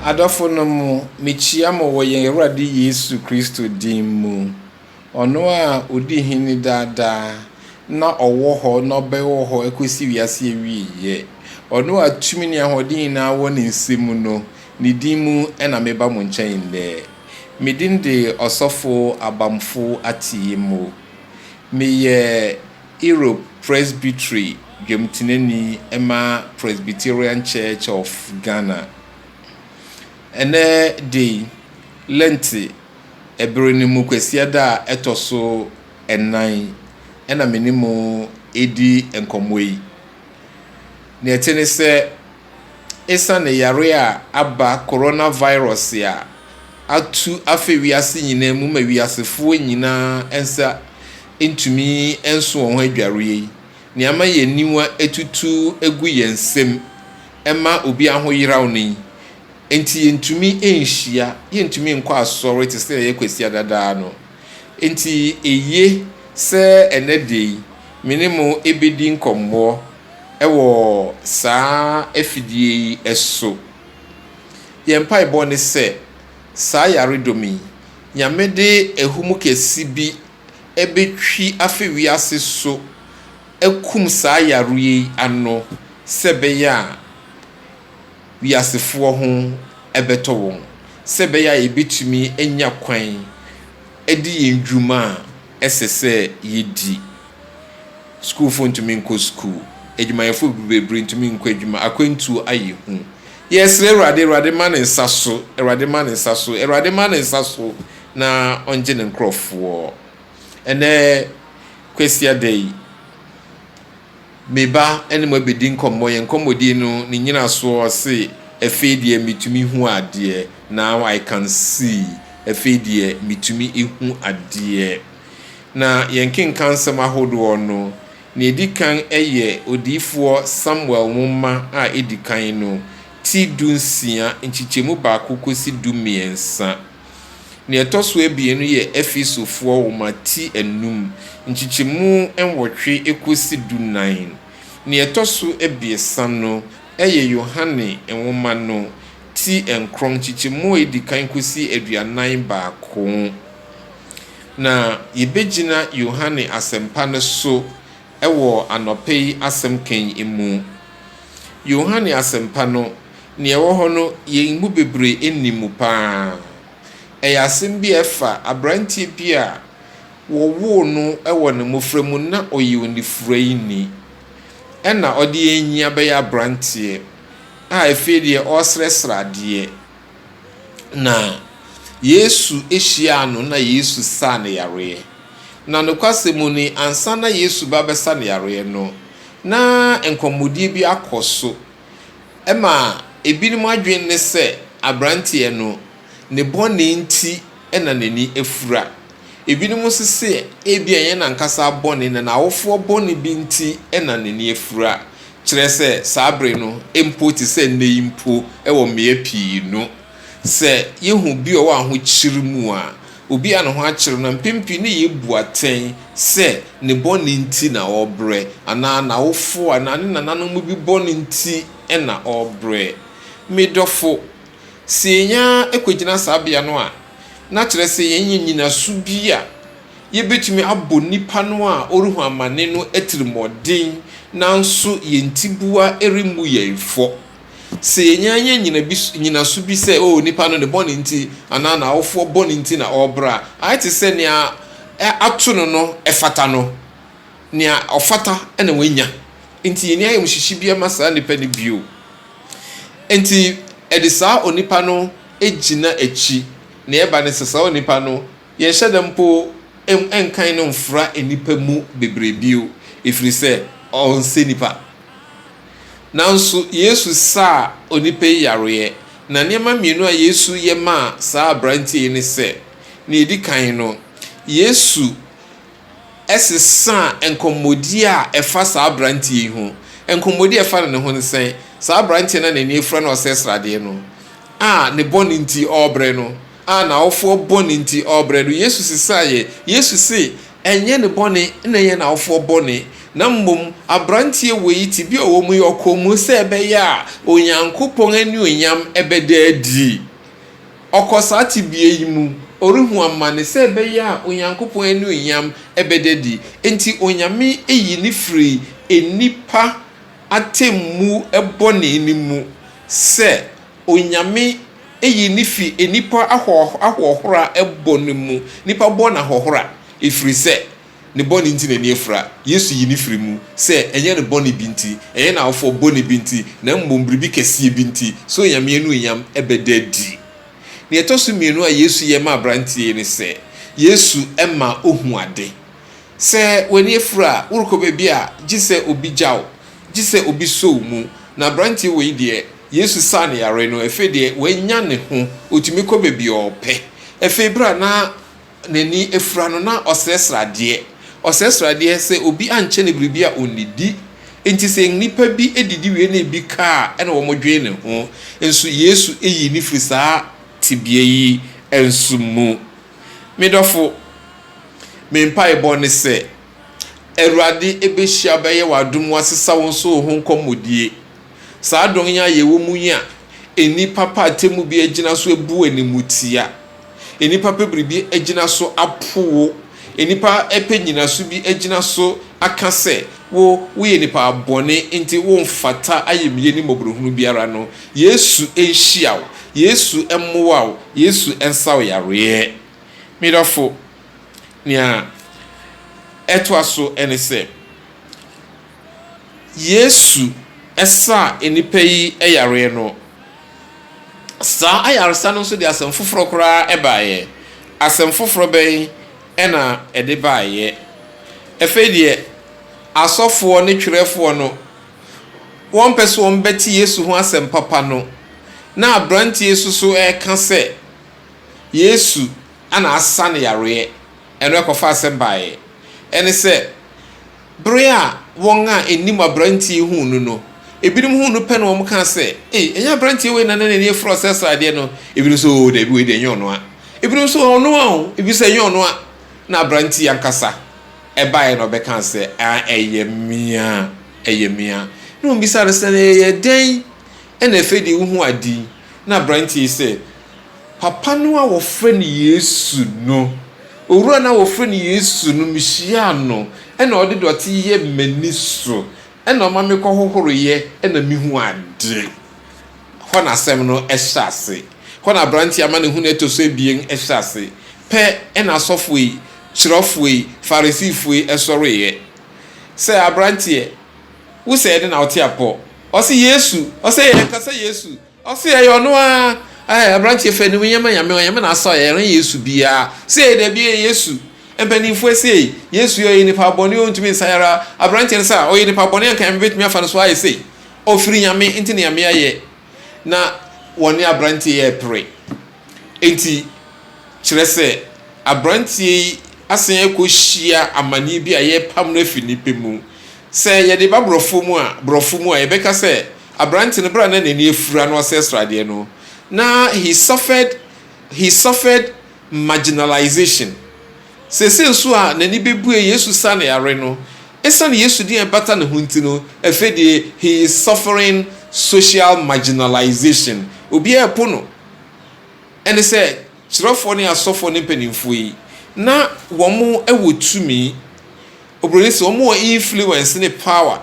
Adɔfonom, mekyia mo wɔ yɛn Awurade Yesu Kristo din mu. Ɔno a odi hene daa daa, na ɔwɔ hɔ na ɔbɛwɔ hɔ akosi wiase awiei. Ɔno a tumi ne ahoɔden nyinaa wɔ ne nsa mu no, ne din mu na meba mo nkyɛn nnɛ. Me din de Ɔsɔfo Abamfo Atiyimmo. Meyɛ Europe Presbytery dwamtenani ma Presbyterian Church of Ghana. Ɛnnɛ da yi, Lent, Bere no mu Kwasiada a ɛtɔ so nnan na me ne mo redi nkɔmmɔ yi. Nea ɛte ne sɛ, esiane yare a aba coronavirus a atu afa wiase nyinaa mu ma wiasefoɔ nyinaa nsa ntumi nso wɔn ho adwareɛ yi, nea ama yɛn aniwa atutu agu yɛn nsam ma obi ahoyeraw nnɛ yi, Enti yentumi nhyia, yentumi nkɔ asɔre te sɛnea yɛkɔ Kwasiada daa no. Enti eye sɛ ɛnnɛ da yi me ne mo bedi nkɔmmɔ wɔ saa afidie yi so. Yɛn mpaebɔ ne sɛ saa yaredɔm yi, Nyame de ahumu kɛse bi betwi afi wiase so akum saa yareɛ yi ano sɛ ɛbɛyɛ a, wiasefoɔ ho bɛtɔ wɔn, sɛ ɛbɛyɛ a yɛbɛtumi anya kwan adi yɛn dwuma a ɛsɛ sɛ yɛdi. Sukuufoɔ ntumi nkɔ sukuu, adwumayɛfoɔ bebree ntumi nkɔ adwuma, akwantuo ayɛ hu. Yɛresrɛ Awurade, Awurade ma ne nsa so, Awurade ma ne nsa so, Awurade ma ne nsa so na ɔngye ne nkorɔfoɔ. Ɛnnɛ Kwasiada yi. Me ba ne mo abɛdi nkɔmmɔ, yɛn nkɔmmɔdie no ne nyinasoɔ ɔse, Ɛfei deɛ metumi hu adeɛ, Now I can see, ɛfei deɛ metumi hu adeɛ. Na yɛn nkenkansɛm ahodoɔ no, nea ɛdi kan yɛ Odiyifoɔ Samuel nwoma a ɛdi kan no, ti du nsia, nkyekyɛmu baako kɔsi du mmiɛnsa. Nea ɛtɔ so abien no yɛ Efesofoɔ nwoma ti anum, nkyekyɛmu nwɔtwe kɔsi dunan. Nea ɛtɔ so abiɛsa no yɛ Yohane nwoma no ti nkron, nkyekyɛmu a ɛdi kan kɔsi aduanan baako. Na yɛbɛgyina Yohane Asɛmpa no so wɔ anɔpa yi asɛm ka yi mu. Yohane Asɛmpa no, Nea ɛwɔ hɔ no, yɛn mu bebree nnim mu paa. Ɛyɛ asɛm bi a ɛfa aberanteɛ bi a wɔwoo no wɔ ne mmofra mu na ɔyɛ onifuraeni. Ɛnna ɔde yɛn nyinaa bɛyɛ aberanteɛ a afei deɛ ɔresrɛsrɛ adeɛ. Na Yesu hyiaa no na Yesu saa no yareɛ. Na nokwasɛm mu ni, ansa na Yesu reba abɛsa no yareɛ no, na nkɔmmɔdie bi akɔ so. ma ebinom adwene ne sɛ aberanteɛ no, ne bɔne nti na n'ani afura. Ebinom nso se ebia ɛnyɛ n'ankasa bɔne, na n'awofoɔ bɔne bi nti na n'ani afura. Kyerɛ sɛ, saa bere no mpo te sɛ nnɛ yi mpo wɔ mmea pii no, sɛ yɛhu bi a ɔwɔ ahokyere mu a, Obi a ne ho akyere no, mpɛn pii no yebu atɛn sɛ ne bɔne nti na ɔrebrɛ, anaa n'awofo anaa ne nananom bi bɔne nti na ɔrebrɛ. Me dɔfo, sɛ yɛn ara kogyina saa bea no a, na kyerɛ sɛ yɛanya nnyinaso bi a yebetumi abɔ nipa no a ɔrehu amane no atirimmɔden, nanso yɛn tiboa remmu yɛn fɔ. Sɛ yenya nya nnyinaso bi sɛ, oh, nipa no ne bɔne nti anaa n'awofoɔ bɔne nti na ɔrebrɛ a, ayɛ te sɛ nea ato no no fata no. Nea ɔfata na wanya. Enti yenni ayamhyehye biara mma saa nipa no bio. Enti yɛde saa onipa no gyina akyi. Nea ɛba ne sɛ, saa onipa no, yɛnhyɛ da mpo nkan no mfra nnipa mu bebree bio, ɛfiri sɛ ɔnsɛ nipa. Nanso, Yesu saa onipa yi yareɛ, na nneɛma mmienu a Yesu yɛ maa saa aberanteɛ yi ne sɛ, nea ɛdi kan no, Yesu sesaa nkɔmmɔdie a ɛfa saa aberanteɛ yi ho. Nkɔmmɔdie a ɛfa no ne ho ne sɛn? Saa aberanteɛ no a n'ani afira na ɔsɛe sradeɛ no, a ne bɔne nti ɔrebrɛ no, A N'awofoɔ bɔne nti ɔrebrɛ no, Yesu sesaeɛ. Yesu se, Ɛnyɛ ne bɔne na ɛyɛ n'awofoɔ bɔne, na mmom aberanteɛ wei tebea a ɔwɔ mu yi, ɔkɔɔ mu sɛ ɛbɛyɛ a Onyankopɔn anuonyam bɛda adi. Ɔkɔ saa tebea yi mu, ɔrehu amane sɛ ɛbɛyɛ a Onyankopɔn anuonyam bɛda adi. Enti Onyame yi no firi nnipa atemmu bɔne no mu sɛ Onyame eyi ne fi nnipa ahoɔh ahoɔhora bɔ no mu, nnipa bɔ no ahoɔhora, efiri sɛ ne bɔne nti n'ani afira. Yesu yi ne firi mu sɛ ɛnyɛ ne bɔne bi nti, ɛnyɛ n'awofoɔ bɔne bi nti, na mmom biribi kɛseɛ bi nti, sɛ Onyame anuonyam bɛda adi. Nea ɛtɔ so mmienu a Yesu yɛ ma aberanteɛ yi ne sɛ, Yesu ma ɔhu ade. Sɛ w'ani afura a, worekɔ baabi a, gye sɛ obi gya wo, gye sɛ obi sɔ wo mu. Na aberanteɛ wei deɛ, Yesu saa ne yareɛ no, afei deɛ wanya ne ho, ɔtumi kɔ baabi a ɔpɛ. Afei berɛ a na n'ani afura no, na ɔsrɛsrɛ adeɛ, ɔsrɛsrɛ adeɛ sɛ obi ankyɛ no biribi a ɔnnidi. Enti sɛ nnipa bi didi wie na ebi ka a, ɛna wɔdwene ne ho. Nso Yesu yii no firii saa tebea yi nso mu. Me dɔfo, me mpaebɔ ne sɛ Awurade bɛhyia bɛyɛ w'adom wasesa wo nso wo ho nkɔmmɔdie. Saa adɔn yi a yɛwɔ mu yi a nnipa pɛ atemmu bi agyina so abu animtia, nnipa pɛ biribi agyina so apo wo, nnipa pɛ nnyinaso bi agyina so aka sɛ wo woyɛ nipa bɔne nti womfata ayemyie ne mmɔborɔhunu biara no, Yesu nhyia wo. Yesu mmoa wo. Yesu nsa wo yareɛ. Me dɔfo, nea ɛtoa so ne sɛ, Yesu saa nnipa yi yareɛ no, saa ayaresa no nso de asɛm foforɔ koraa baeɛ. Asɛm foforɔ bɛn na ɛde baeɛ? Afei deɛ, asɔfoɔ ne twerɛfoɔ no. wɔmpɛ sɛ wɔbɛte Yesu ho asɛm papa no, na aberanteɛ yi nso so reka sɛ Yesu na asa no yareɛ. Ɛno ɛkɔfa asɛm baeɛ. Ɛne sɛ, bere a wɔn a ɛnim aberanteɛ yi huu no no, ebinom huu no pɛ na wɔkaa sɛ, Ei, ɛnyɛ aberanteɛ wei na na n'ani afura saa sradeɛ no? Ebinom nso, Oo, dabi, wei deɛ ɛnyɛ ɔno a. Ebinom nso, Ɔno ara o, ebinom nso, Ɛnyɛ ɔno a. Na aberanteɛ yi ankasa. ɛbaeɛ na ɔbɛkaa sɛ, Ah, ɛyɛ mea, ɛyɛ mea. Na wɔbisaa no sɛ, Na ɛyɛ dɛn na afei deɛ wohu ade yi? Na aberanteɛ yi sɛ, Papa no a wɔfrɛ no Yesu no, owura no a wɔfrɛ no Yesu no, mehyiaa no, ɛna ɔde dɔte yɛ m'ani so, ɛna ɔma mekɔhohoroeɛ, ɛna mehu ade. Hɔ na asɛm no hyɛ ase. Hɔ na aberanteɛ amanehunu a ɛtɔ so abien hyɛ ase. Pɛ, ɛna asɔfoɔ yi kyerɛfoɔ yi, Farisifoɔ yi, sɔreeɛ. Sɛ, aberanteɛ, wo sɛ yɛde na wote apɔ? Ɔse, Yesu. Ɔse, Ɛyɛ anka sɛ Yesu? Ɔse, Ɛyɛ ɔno ara. Ɛɛ, aberanteɛ, fa anim yɛ ma Nyame, Onyame na asɔ yɛ, ɛrenyɛ Yesu biara. Sei, dabi, ɛyɛ Yesu. Mpaninfoɔ sei, Yesu yi, ɔyɛ nipa bɔne, ɔntumi nsa yare ara. Aberanteɛ no se, Ah, ɔyɛ nipa bɔne a, anka Nyame bɛtumi afa no so ayɛ sei? Ɔfiri Nyame, nti na Nyame ayɛ. na wɔne aberanteɛ yi repere. Enti, kyerɛ sɛ, aberanteɛ yi asan akɔhyia amanneɛ bi a yɛrepam no afiri nnipa mu. Sɛ yɛde ba borɔfo mu a, borɔfo mu a, yɛbɛka sɛ, aberante no, berɛ a na n'ani afura na ɔsɛ sradeɛ no, na he suffered, he suffered. marginalization. Seesei nso a n'ani bebue Yesu sa ne yare no, esiane Yesu din a ɛbata ne ho nti no, afei de he is suffering social marginalization. Obiara repo no. Ɛne sɛ, kyerɛfoɔ ne asɔfoɔ ne mpanimfoɔ yi, na wɔn wɔ tumi, oburoni se, wɔn wɔ influence ne power.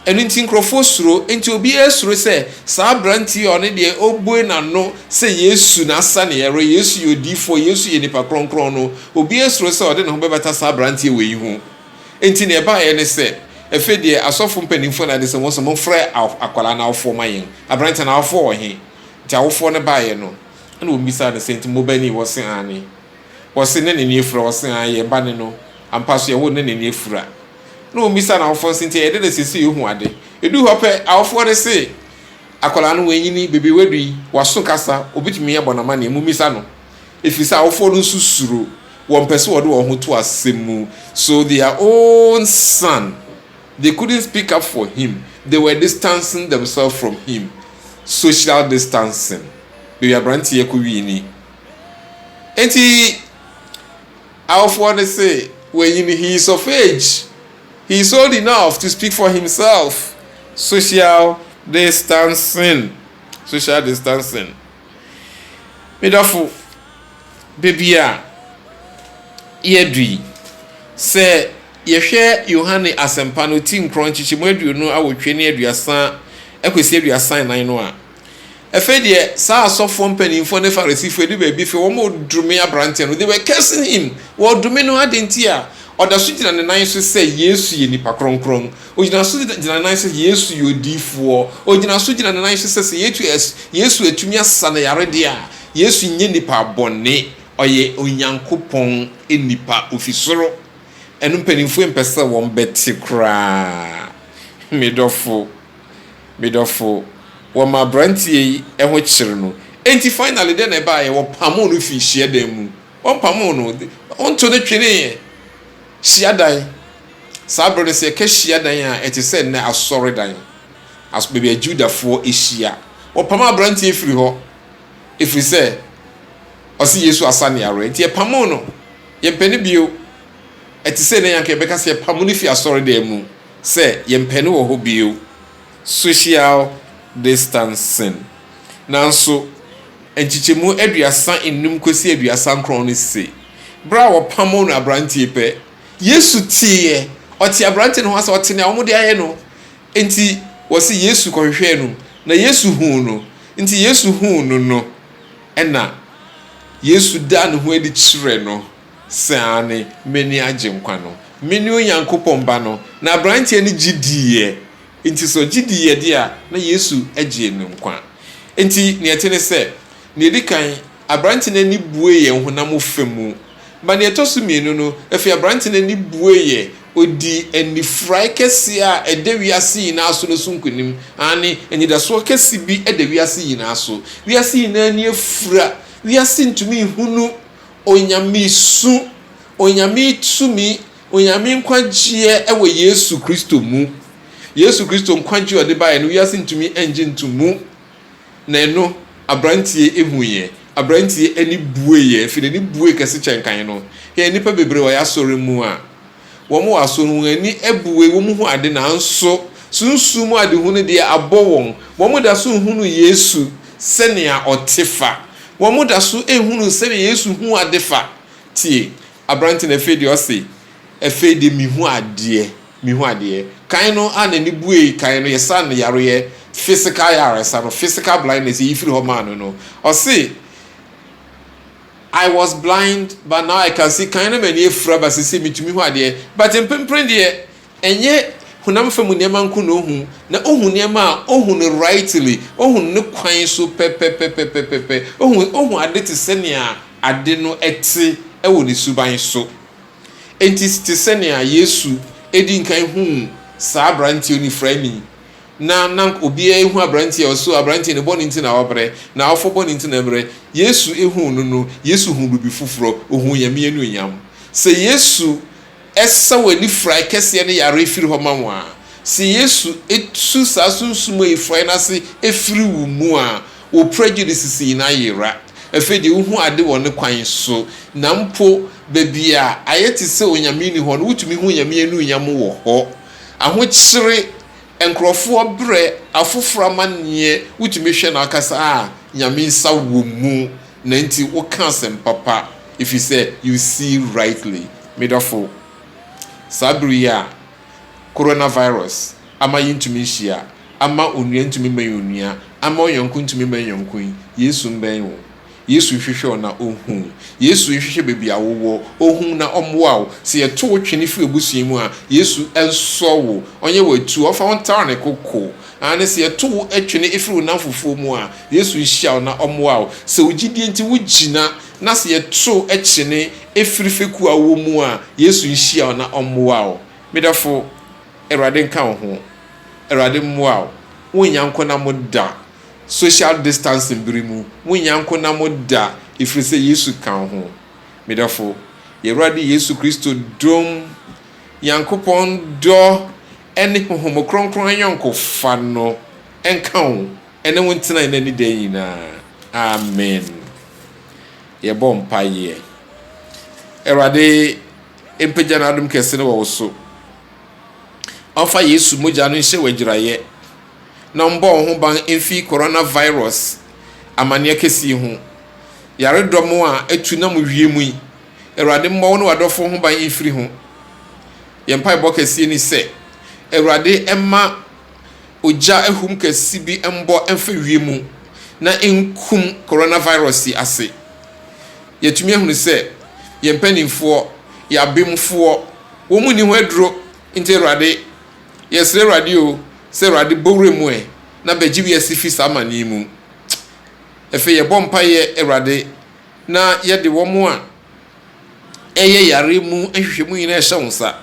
Ɛno nti nkurɔfoɔ suro. Enti obiara suro sɛ saa aberanteɛ yi a ɔno deɛ ɔrebue n'ano sɛ Yesu na asa ne yare, Yesu yɛ odiyifoɔ, Yesu yɛ nipa kronkron no, obiara suro sɛ ɔde ne ho bɛbata saa aberanteɛ wei ho. Enti deɛ ɛbaeɛ ne sɛ, Afei deɛ asɔfoɔ mpanimfoɔ na ade sɛ wɔn nso momfrɛ akwadaa no awofoɔ ma yɛn. Aberanteɛ no awofoɔ wɔ he? Enti awofoɔ no baeɛ no, ɛnna wɔbisaa no sɛ, Enti mo ba ni? Wɔse, Aane. Wɔse, Ne n'ani afura? Wɔse, Aane, yɛn ba ne no. Ampa so yɛwoo no na n'ani afura. na wɔmmisa n'awofoɔ nso nti ɛyɛ dɛ na seesei ɔhu ade. Ɛduu hɔ pɛ, awofoɔ no se, Akwadaa no, wanyini, baabi a wadu yi, waso kasa, ɔbɛtumi abɔ no amanneɛ, mommisa no. Ɛfiri sɛ awofoɔ no nso suro, wɔmpɛ sɛ wɔde wɔn ho to asɛm mu. So their own son, they couldn't speak up for him, they were distancing themselves from him. Social distancing. Baabi aberanteɛ kɔwii ni. Enti, Awofoɔ no se, Wei no, he is of age, he is old enough to speak for himself. Social distancing, social distancing. Me dɔfo, baabi a yɛadu yi, sɛ yɛhwɛ Yohane Asɛmpa no ti nkorɔnkyekyem aduonu awotwe ne aduasa kɔsi aduasa nnan no a, Afei deɛ, saa asɔfoɔ mpanimfoɔ ne Farisifoɔ adu baabi fei, wɔredome aberanteɛ no. They were cursing him. Wɔredome no. Adɛn nti a? Ɔda so gyina ne nan so sɛ Yesu yɛ nipa kronkron. Ɔgyina so gyina ne nan so sɛ Yesu yɛ odiyifoɔ. Ɔgyina so gyina ne nan so sɛ sɛ Yesu, Yesu atumi asa no yare deɛ a, Yesu nyɛ nipa bɔne. Ɔyɛ Onyankopɔn nipa. Ɔfi soro. Ɛno mpanimfoɔ mpɛ sɛ wɔbɛte koraa, me dɔfo. Me dɔfo, wɔma aberanteɛ yi ho kyere no. Enti finally dɛn na ɛbaeɛ? Wɔpamoo no fii hyiadan mu. Wɔmpamoo no. Wɔnto no tweneeɛ. Hyiadan. Saa berɛ no, sɛ yɛka hyiadan a, ɛte sɛ nnɛ asɔredan. As, baabi a Judafoɔ hyia. Wɔpam aberanteɛ firi hɔ, ɛfiri sɛ ɔse Yesu asa no yareɛ. Enti yɛpamoo no. Yɛmpɛ no bio. Ɛte sɛ nnɛ yɛn anka yɛbɛka sɛ yɛpamo no firi asɔredan mu. sɛ yɛmpɛ no wɔ hɔ bio, social distancing. Nanso, nkyekyɛmu aduasa nnum kɔsi aduasa nkron no se, berɛ a wɔpamoo no aberanteɛ pɛ, Yesu teeɛ, ɔtee aberanteɛ no ho asɛm, ɔtee nea wɔde ayɛ no. Enti, wɔse Yesu kɔhwehwɛɛ no, na Yesu huu no. Enti Yesu huu no no, ɛnna Yesu daa ne ho adi kyerɛ no. Sɛ aane, m'ani agye nkwa no. Mene Onyankopɔn Ba no. Na aberanteɛ no gye diiɛ. Enti sɛ ɔgye diiɛ deɛ a, na Yesu agyee no nkwa. Enti deɛ ɛte ne sɛ, deɛ ɛdi kan, aberanteɛ no ani bueeɛ honam fa mu. Ma deɛ ɛtɔ so mmienu no, afei aberanteɛ no ani bueeɛ, ɔdii anifurae kɛseɛ a ɛda wiase nyinaa so no so nkonim. Aane, anidasoɔ kɛse bi da wiase nyinaa so. Wiase nyinaa ani afura. Wiase ntumi nhunu Onyame su, Onyame tumi, Onyame nkwagyeɛ wɔ Yesu Kristo mu. Yesu Kristo nkwagyeɛ a ɔde baeɛ no wiase ntumi ngye nto mu. Na ɛno abranteɛ huiɛ, abranteɛ ani bueɛ, ɛfiri n'ani bue kɛse kyɛn kan no. Hwɛ nnipa bebree wɔ yɛn asɔre mu a, Wɔwɔ aso no, wɔn ani abue, wɔhu ade, nanso sunsum mu adehu no deɛ, abɔ wɔn. Wɔda so nhunuu Yesu sɛnea ɔte fa. Wɔda so nhunuu sɛnea Yesu hu ade fa. Tie! Aberante no afei deɛ ɔse, Afei deɛ mehu adeɛ. Mehu adeɛ. Kan no a n'ani buei kan no, yɛsaa no yareɛ, physical ayaresa no, physical blindness, yɛyi firi hɔ maa no no. Ɔse, I was blind but now I can see Kan na m'ani afura but seesei metumi hu adeɛ But mprempren deɛ ɛnyɛ honam fam nneɛma nko na ɔhu na ɔhu nneɛma a ɔhu no rightly, ɔhu no ne kwan so pɛpɛpɛpɛpɛpɛ, ɔhu ɔhu ade te sɛnea ade no te wɔ ne suban so. Enti te sɛnea Yesu di nkan huu saa aberanteɛ onifuraani, na na obiara ehu aberantsɛ a ɔsoo aberantsɛ no bɔn ntsi na ɔbrɛ, na ɔfo bɔn ntsi na ɔbrɛ. Yesu ehuu no no, Yesu hun biribi fofor, ohun Nyame enuonyam. Sɛ Yesu saw Enifurae kɛseɛ no yare fir hɔ ma wo a, sɛ Yesu tu saa sunsum ayifurae no ase fir wo mu a, wo prejudices nyina yera. Afei deɛ wohu ade wɔ Ne kwan so, na mpo baabi a ayɛ te sɛ Onyame nni hɔ no, wotumi hu Onyame anuonyam wɔ hɔ. Ahokyere nkorɔfoɔ brɛ afoforɔ amanneɛ wotumi hwɛ no ankasa a Nyame nsa wɔ mu na nti woka asɛm papa ɛfiri sɛ you see rightly me dɔfo saa bere yi a Corona virus ama yentumi nhyia ama onua ntumi mmɛn onua ama ɔyɔnko ntumi mmɛn yɔnko yi Yesu mbɛn wo Yesu nhwehwɛ wo na ɔnhu wo. Yesu nhwehwɛ baabi a wowɔ, ɔnhu wo na ɔmmoa wo. Sɛ yɛto wo twene firi abusua mu a, Yesu nsɔ wo, ɔnyɛ wo atuu, ɔmfa wo ntare ne koko. Aane, sɛ yɛto wo twene firi wo nnamfofoɔ mu a, Yesu nhyia wo na ɔmmoa wo. Sɛ wo gyidie nti wogyina na sɛ yɛto kyene firi fekuo a wowɔ mu a, Yesu nhyia wo na ɔmmoa wo. Me dɔfo, Awurade nka wo ho. Awurade mmoa wo. Wonnya nkɔnna mu da. social distancing bere mu, munnya nko na mo da, efiri sɛ Yesu ka wo ho. Me dɔfo, Y'Awurade Yesu Kristo dom, Nyankopɔn dɔ ɛne Honhom Kronkron ayɔnkofa no nka wo ɛne wo ntena ɛnnɛ ne daa nyinaa. Amen. Yɛbɔ mpaeɛ. Awurade mpagya n'adom kɛse no wɔ wo so. Ɔmfa Yesu mogya no nhyɛ wo agyiraeɛ. na ɔmbɔ wo ho ban mfi coronavirus amanneɛ kɛse yi ho. Yaredɔm a atu nam wiem yi, Awurade mmɔ wo ne w'adɔfo ho ban mfiri ho. Yɛn mpaebɔ kɛseɛ ni sɛ, Awurade mma ogya ahum kɛse bi mbɔ mfa wiem na nkum coronavirus yi ase. Yɛatumi ahunu sɛ yɛn mpanimfoɔ, yɛn abemfoɔ, wɔn nni ho aduro nti Awurade, Yɛsrɛ Awurade o, sɛ Awurade bɔ wura mu ɛ, na bɛgye wiase firi saa amane yi mu. Ɛfei yɛbɔ mpaeɛ Awurade, na yɛde wɔn a ɛyɛ yareɛ mu nhwehwɛmu nyinaa ɛhyɛ wo nsa.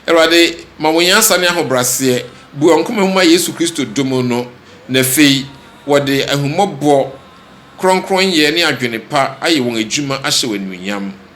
Awurade, ma wɔn nyansa ne ahobraseɛ, bue wɔn koma mu ma Yesu Kristo dɔ mu no, na ɛfei wɔde ahummɔbɔ, krɔnkrɔnyɛ ne adwene pa ayɛ wɔn adwuma ahyɛ wo animuonyam.